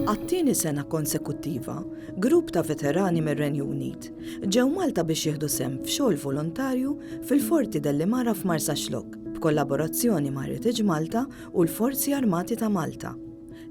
Għat-tieni sena konsekuttiva, grupp ta' veterani mir-Renju Unit ġew Malta biex jieħdu sehem f'xogħol volontarju fil-Forti Delle Mara f'Marsaxlokk, b'kollaborazzjoni ma' Heritage Malta u l-Forzi Armati ta' Malta.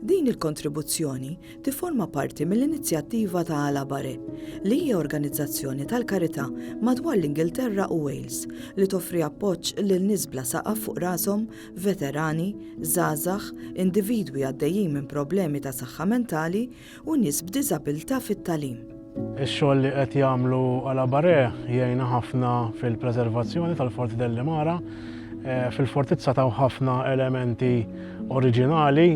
Din il-kontribuzzjoni tifforma parti mill-inizjattiva ta' Alabare, li hija organizzazzjoni tal-karità madwar l-Ingilterra u Wales li toffri appoġġ lil nies bla saqaf fuq rashom, veterani, żgħażagħ, individwi għaddejjin minn problemi ta' saħħa mentali u nies b'diżabilità fit-tagħlim. Ix-xogħol li qed jagħmlu Alabaré jgħinna ħafna fil-preservazzjoni tal-Forti del Limara. Eh, fil-fortizza taw ħafna elementi oriġinali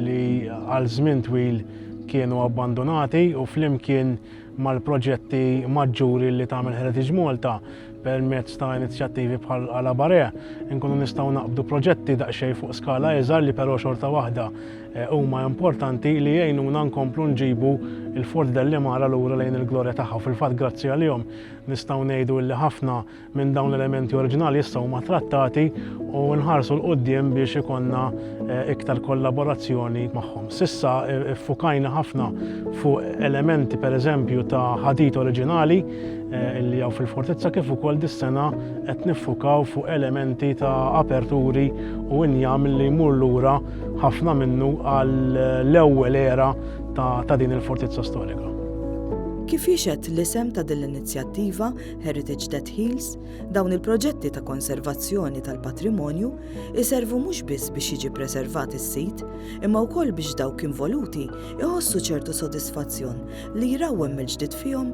li għal żmien twil kienu abbandonati u flimkien mal-proġetti maġġuri li tagħmel Heritage Malta Permezz ta' inizjattivi bħal Alabarea, nkunu nistgħu naqbdu proġetti daqsxejn fuq skala iżgħar li però xorta waħda eh, huma importanti li jgħinuna nkomplu nġibu il-Fort dell-Imara lura lejn il-glorja tagħha. Fil-fatt grazzi għalihom nistgħu ngħidu li ħafna minn dawn l-elementi oriġinali issa huma trattati u nħarsu l-qudiem biex ikonna eh, iktar kollaborazzjoni magħhom. Sissa eh, ffukajna ħafna fuq elementi pereżempju ta' ħadit oriġinali Eh, illi għaw fil-fortizza kif ukoll dis-sena qed niffukaw fuq elementi ta' aperturi u injam li jmur lura ħafna minnu għall ewwel era ta' din il-fortizza storika. Kif jixed l-isem ta' din l-inizjattiva Heritage Dead Hills, dawn il-proġetti ta' konservazzjoni tal-patrimonju iservu mhux biss biex jiġi preservat is-sit, imma wkoll biex dawk involuti iħossu ċertu sodisfazzjon li jrawwem mill-ġdid fihom